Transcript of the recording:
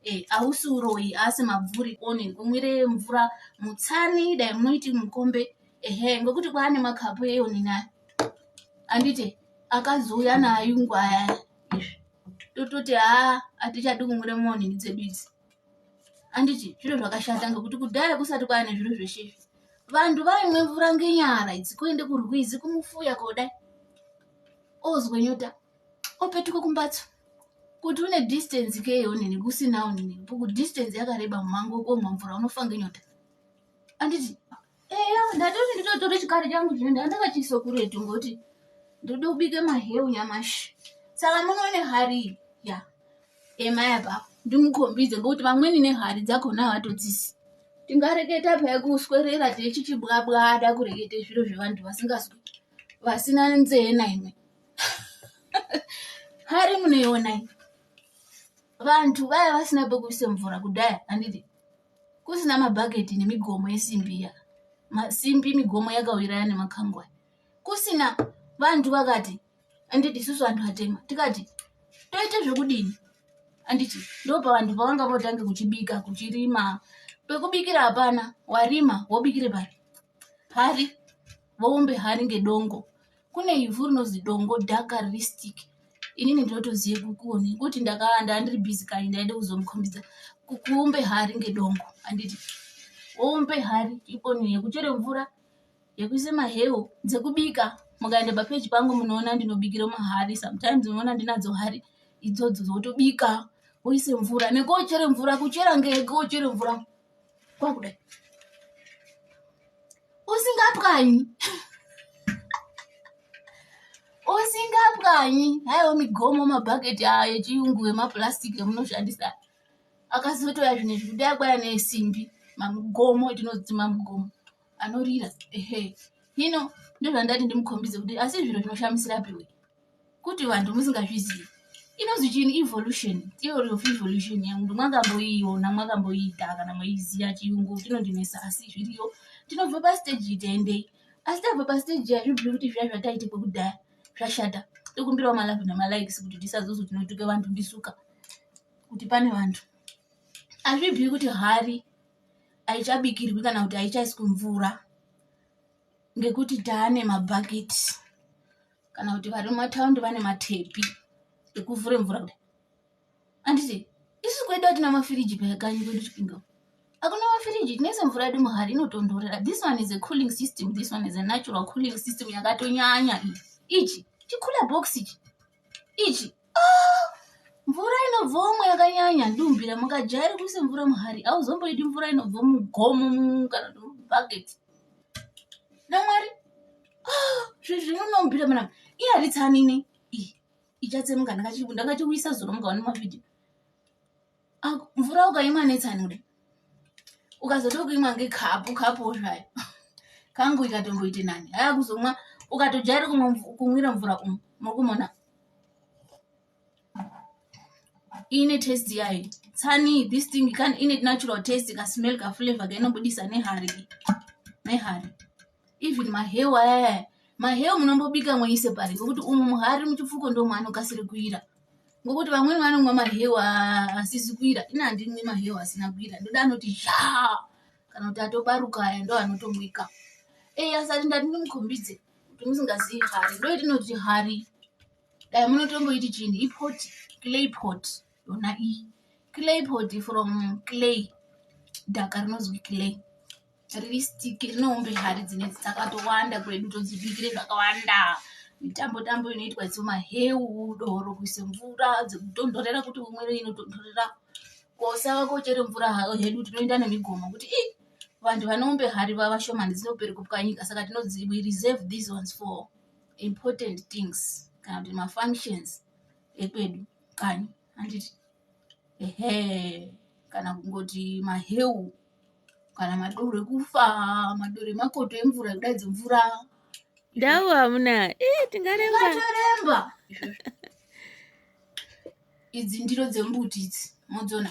Eh, hausi uroyi asi mabvuri one kumwire mvura mutsani dai munoiti mukombe ehe ngokuti kwaane makapu eonini aya anditi akazouya nayo ngwaya izvi tototi haa hatichadi kumwira muonini dzedu idzi anditi zviro zvakashata ngokuti kudhaya kusati kwaane zviro zveshe izvi vanhu vaimwe mvura ngenyara idzi kuende kurwizi kumufuya kodai ozwe nyota opetuka kumbatso kuti une distance kei onini kusinawo nini kuti distance yakareba mumhango wekuomwa mvura unofa ngenyota anditi eya ndatoti nditotore chikari changu chino ndandakachiisa kuretu ngokuti ndode kubike maheu nyamashi saka munoone hari ya emai apapo ndimukhombidze ngokuti vamweni nehari dzakhona havatodzisi tingareketa paya kuswerera techichibwabwada kurekete zviro zvevantu vasingazwi vasina nzee naimwe hari munoionai vanhu vaya vasina pekuisa mvura kudhaya handiti kusina mabhaketi nemigomo yesimbi iya masimbi migomo yakawiraya nemakangwa kusina vanhu vakati handiti isusu vanhu vatema tikati toita zvekudini handiti ndo pavanhu pavanga votange kuchibika kuchirima pekubikira hapana warima wobikire pari pari voumbe hari ngedongo kune ivhu rinozi dongo dhaka riri stick inini ndinotoziva kukoni kuti ndakawanda andiri busy kani ndaida kuzomukhombidza kuumbe hari ngedongo anditi woumbe hari ikoni yekuchere mvura yekuisa mahewu dzekubika mukaenda papeji pangu munoona ndinobikira mahari sometimes unoona ndinadzo hari idzodzo dzotobika woise mvura nekochere mvura kuchera ngege wochere mvura kwakuda usingapwanyi usingapwanyi haiwa migomo mabhaketi ayo echiyungu emaplastic emunoshandisa akazotoya zvinhu izvi kudai kwaya nesimbi mamugomo etinodzi mamugomo anorira ehe hino ndozvandati ndimukhombidze kuti asi zviro zvinoshamisira piwe kuti vantu musingazvizivi inonzi chini evolution theory of evolution yangu mwakamboiona mwakamboiita kana maiziva chiyungu chinondinesa asi zviriyo tinobva pasteji iteendei asi tabva pasteji hazvibviri kuti zviya zvataitikwa kudhaya zvashata tokumbirawo malove nemalikes kuti tisazozo tinotuka vantu ndisuka kuti pane vantu hazvibviri kuti hari haichabikirwi kana kuti haichaiswi mvura ngekuti taane mabhaketi kana kuti vari mumataundi vane matepi ekuvhura mvura kudai anditi isu kwedu atina mafiriji payakanyi kwedu chipinga akuna mafiriji tinoisa mvura yedu muhari inotondorera this one is a cooling system this one is a natural cooling system yakatonyanya iyi ichi chikula box ichi ichi mvura inobvomo yakanyanya dumbira mukajairi kuisa mvura muhari auzomboidi mvura inobvo mugomo kana kuti mubhaketi namwari ah, zvezvinonombira mana iye haritsanini ichatsemuka ndakatiuyisa zuro mukaona mavhidhio Ah, mvura ukaimwa netsanude ukazoto kuimwa ngekapu kapu zvayo kangu ikatomboite nani haya kuzomwa ukatojaira kumwira mvura umu muri kumona ine test yayo tsani this thing kan ine natural test kasmell kaflavor kainobudisa nehari nehari even maheu ayaya maheu munombobika moise pari ngokuti umu muhari muchipfuko ndomaanokasiri kuira ngokuti vamweni vanomwa mahewa asizi kuira ini handinwi mahewa asina kuira ndoda anoti zha kana kuti atobaruka aya ndo anotomwika ei asati ndati ndimukhombidze kuti musingazivi hari ndo yatinoti hari dai munotomboiti chini ipot clay pot yona iyi clay pot from clay dhaka rinozwi clay riri stick rine hombe hari dzinedzi dzakatowanda kwedu todzibikire zvakawanda mitambo tambo inoitwa idzo maheu doro kuise mvura dzekutonhorera kuti umwire inotonhorera kosava kochere mvura hayo hedu tinoenda nemigomo kuti i vanhu vanoombe hari vavashomani dzinopere kupwanyika saka tinodzi we reserve these ones for important things kana kuti mafunctions ekwedu kani handiti ehe kana kungoti maheu kana madoro ekufa madoro emakoto emvura ekuda idzi mvura ndau hamuna eh, tingaremba ngatoremba idzi ndiro dzembuti idzi modzona